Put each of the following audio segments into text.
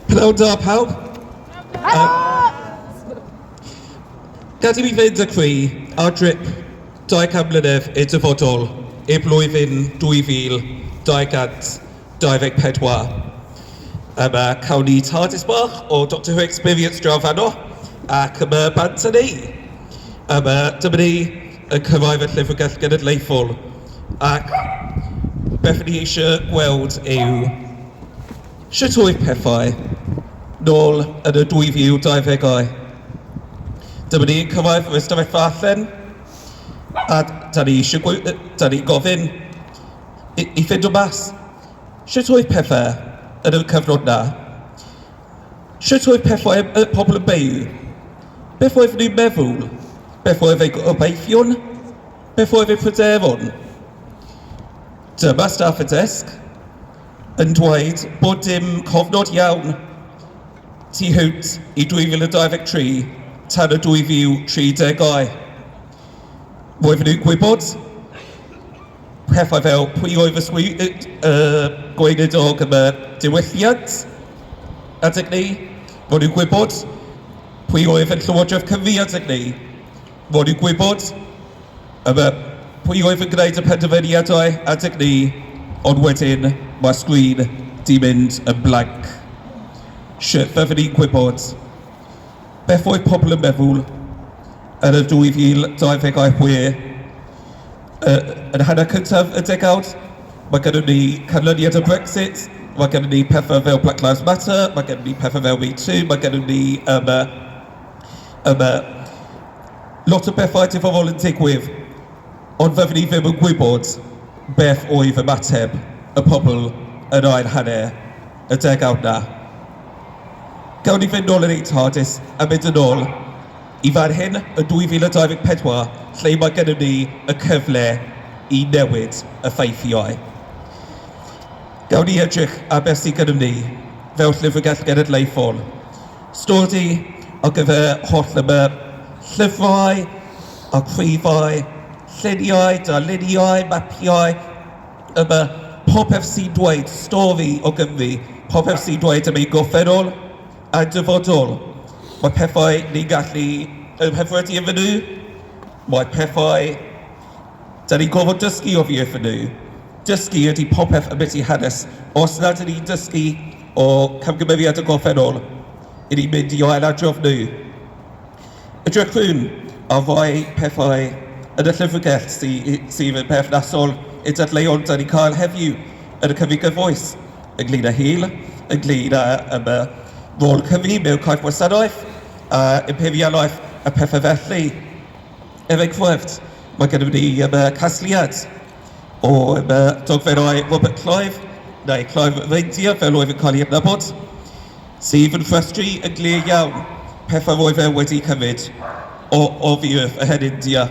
Pnawn da pawb. Uh, Gadi mi fynd â chwi ar drip 200 mlynedd i'r dyfodol i'r blwyddyn 2224. Yma cawn ni TARDIS bach o Doctor Who Experience draw fanno ac yma bant yn ei. Yma dyma ni y cyhoedd a'r Llyfrgell Genedlaethol ac beth ni eisiau gweld yw sut oedd pethau nôl yn y 2020au. Dyma ni yn cyrraedd yr ystafelfa allan a da ni eisiau gwe- yy da ni'n gofyn i i ffeindio mas sut oedd pethau yn y cyfnod 'na. Sut oedd pethau ym y pobl y beu? Beth oedd nhw'n meddwl? Beth oedd eu gobeithion? Beth oedd eu pryderon? Dyma staff y desg yn dweud bod dim cofnod iawn tu hwnt i 2023 tan y 2030au. Roedden nhw'n gwybod Pethau fel pwy oedd y gweinidog yn y diwylliant adeg 'ny, fod ni'n gwybod pwy oedd yn Llywodraeth Cymru adeg 'ny, fod ni'n gwybod pwy oedd yn gwneud y penderfyniadau adeg 'ny, ond wedyn mae'r sgrin 'di mynd yn blank. Sut fyddwn ni'n gwybod beth oedd pobl yn meddwl yn y 2026? Yy, yn y hanner cyntaf y degawd, mae gennyn ni canlyniad o Brexit, mae gennyn ni pethau fel Black Lives Matter, mae gennyn ni pethau fel MeToo, mae gennyn ni yym yy yym yy lot o bethau diddorol yn digwydd, ond fyddwn ni ddim yn gwybod beth oedd ymateb y pobl yn ail hanner y degawd 'na. Gawn ni fynd nôl yn ein TARDIS a mynd yn ôl. Y fer hyn yn 2024 lle mae gennym ni y cyfle i newid y ffeithiau. Gawn ni edrych ar beth sydd gennym ni fel Llyfrgell Genedlaethol, stori ar gyfer holl y llyfrau, archifau, lluniau, darluniau, mapiau, yma, popeth sy'n dweud stori o Gymru, popeth sy'n dweud am ein gorffennol, Y dyfodol, Mae pethau ni'n gallu eu hyfryddu iddyn nhw, mae pethau dan ni'n gorfod dysgu oddi wrthyn nhw. Dysgu ydy popeth ambiti hanes. Os nad ydyn ni'n dysgu o camgymeriad y gorffennol, ry'n ni'n mynd i ailadrodd nhw. Edrychwn ar rai pethau yn y llyfrgell sy- sydd yn berthnasol i'r dadleuon dan ni'n cael heddiw yn y Cyfrif Gyfoes. y Gleira Hil, y Gleira yn y rôl Cymru mewn corff wasanaeth, a imperialaeth a pethau felly. Er enghraifft, mae gennym ni yma casgliad o yma dogferau Robert Clive, neu Clive Reindeer fel oedd yn cael ei adnabod, Sydd yn ffatri yn glir iawn pethau roedd e wedi cymryd o oddi wrth y Hen India.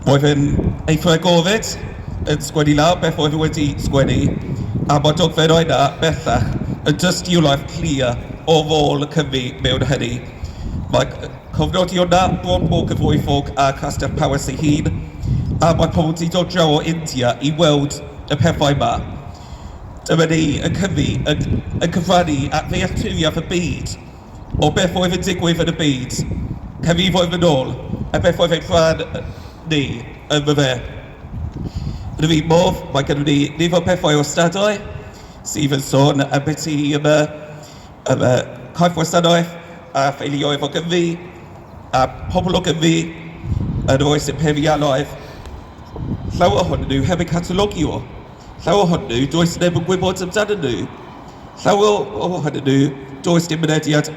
Roedd e'n eithr agored yn sgwennu lawr beth oedd e wedi sgwennu, a mae'r dogfennau yna bellach yn dystiolaeth clir o rôl y Cymry mewn hynny. Mae cofnodi o na bron mor gyfoethog â Chastell Powys ei hun, a mae pobl 'di dod draw o India i weld y pethau 'ma. Dyma ni yn cyfri, yn, yn cyfrannu at ddealltwriaeth y byd, o beth oedd yn digwydd yn y byd canrifoedd yn ôl, a beth oedd ein rhan ni ynddo fe. Yn yr un modd, mae gynnon ni nifer pethau o ystadau sydd yn sôn am beth sy yn y, yn y corff wasanaeth a theuluoedd o Gymru, a phobl o Gymru yn yr oes imperialaidd, llawer ohonyn nhw heb eu catalogio. Llawer ohonyn nhw, does neb yn gwybod amdanyn nhw. Llawer ohonyn nhw, does dim mynediad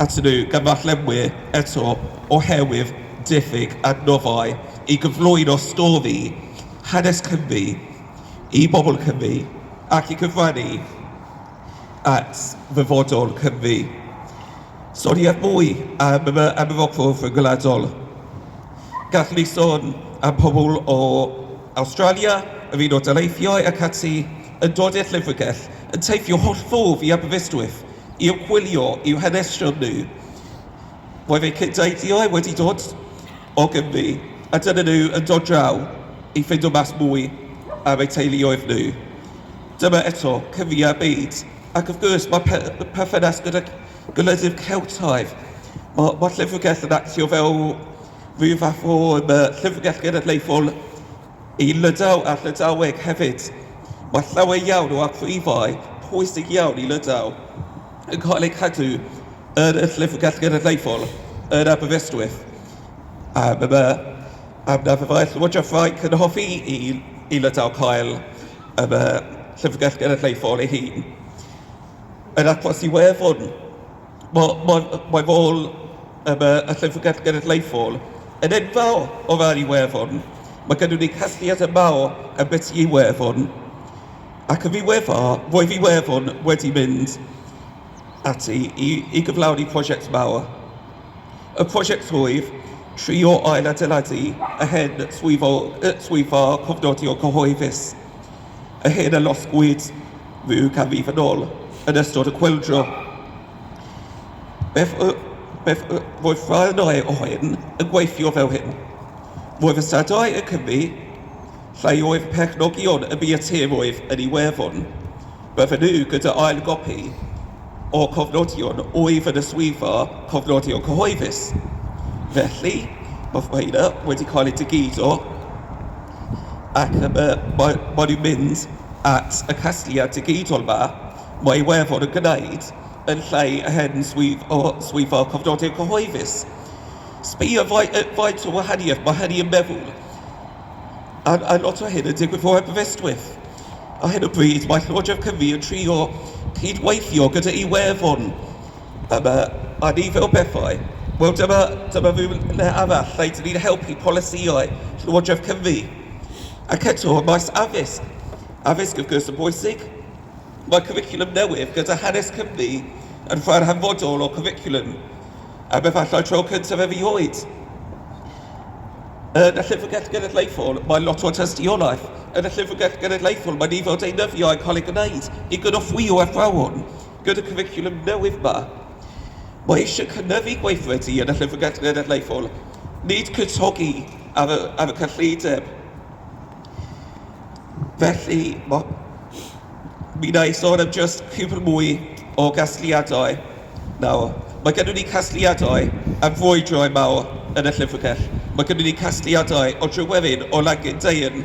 atyn nhw gan ddarllenwyr eto oherwydd diffyg adnoddau i gyflwyno stori hanes Cymru i bobl Cymru ac i gyfrannu at ddyfodol Cymru. Sori ar fwy am y am y Rhyngwladol. Gallwn ni sôn am pobl o Awstralia, yr Unol Daleithiau ac ati, yn dod i'r Llyfrgell, yn teithio holl ffordd i Aberystwyth i ymchwilio i'w hanesion nhw. Roedd eu cyd-deithiau wedi dod o Gymru a dyna nhw yn dod draw i ffindo mas mwy ar eu teuluoedd nhw. Dyma eto, Cymru-a'r byd, ac wrth gwrs mae pe perthynas gyda gwledydd Celtaidd. Mae, mae Llyfrgell yn actio fel Rwyf â ffôn y Llyfrgell Genedlaethol i Lydaw a Llydaweg hefyd. Mae llawer iawn o amrwyfau pwysig iawn i Lydaw yn cael eu cadw yn y Llyfrgell Genedlaethol yn Aberystwyth. Am yma, am na fe mae'r Llywodraeth Ffrainc yn hoffi i, i Lydaw cael y Llyfrgell Genedlaethol ei hun. Yr achos i Werddon Mae, mae, mae fy ôl yn y Llyfrgell Genedlaethol yn enfawr o ran Iwerddon. Mae gennyn ni casgliad yn fawr am beth sy'n Iwerddon. Ac yn ddiweddar, roedd Iwerddon wedi mynd ati i i gyflawni prosiect mawr. Y prosiect roedd trio ail-adeiladu yr hen swyddfa cofnodion cyhoeddus. a hyn a losgwyd ryw ganrif yn ôl yn ystod y chwyldro. Beth, beth roedd rhan o hyn yn gweithio fel hyn. Roedd y sadau yn Cymru lle oedd perchnogion y bioteroedd yn Iwerddon. Bydden nhw gyda ail gopi o cofnodion oedd yn y swyddfa cofnodion cyhoeddus. Felly, mae rhain wedi cael eu digido ac yym yy mae mae nhw'n mynd at y casgliad digidol 'ma, mae Iwefor yn gwneud yn lle y hen swydd o swyddfa cofnodion cyhoeddus. Sbïa fai- yy faint o wahaniaeth mae hynny yn meddwl, a a lot o hyn yn digwydd fod heb Aberystwyth. Ar hyn o bryd mae Llywodraeth Cymru yn trio cydweithio gyda Iwefor. Yma, a ni fel pethau, wel dyma, dyma ryw le arall lle dyn ni'n helpu polisïau Llywodraeth Cymru. Ac eto, ym maes addysg, addysg wrth gwrs yn bwysig, mae cwricwlwm newydd gyda hanes Cymru yn rhan hanfodol o cwricwlwm, am efallai tro cyntaf erioed. Yn y Llyfrgell Genedlaethol, mae lot o tystiolaeth. Yn y Llyfrgell Genedlaethol, mae nifer o deunyddiau yn cael eu gwneud i gynorthwyo athrawon. Gyda cwricwlwm newydd 'ma, mae eisiau cynyddu gweithredu yn y Llyfrgell Genedlaethol, nid cwtogi ar y, ar y cyllideb. Felly, mae, mi wna i sôn am jyst cwpl mwy o gasgliadau nawr. Mae gennym ni casgliadau am frwydrau mawr yn y Llyfrgell. Mae gennym ni casgliadau o dryweryn o Langyn Deian.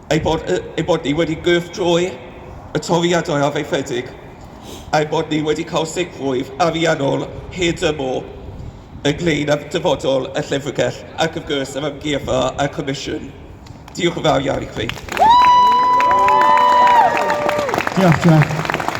ei bod y, ei bod ni wedi gyrchdroi y toriadau arfaethedig, a'i bod ni wedi cael sicrwydd ariannol hyd y môr ynglŷn â dyfodol y Llyfrgell ac wrth gwrs yr Amgueddfa a'r Comisiwn. Diolch yn fawr iawn i chwi. Diolch, Jeff.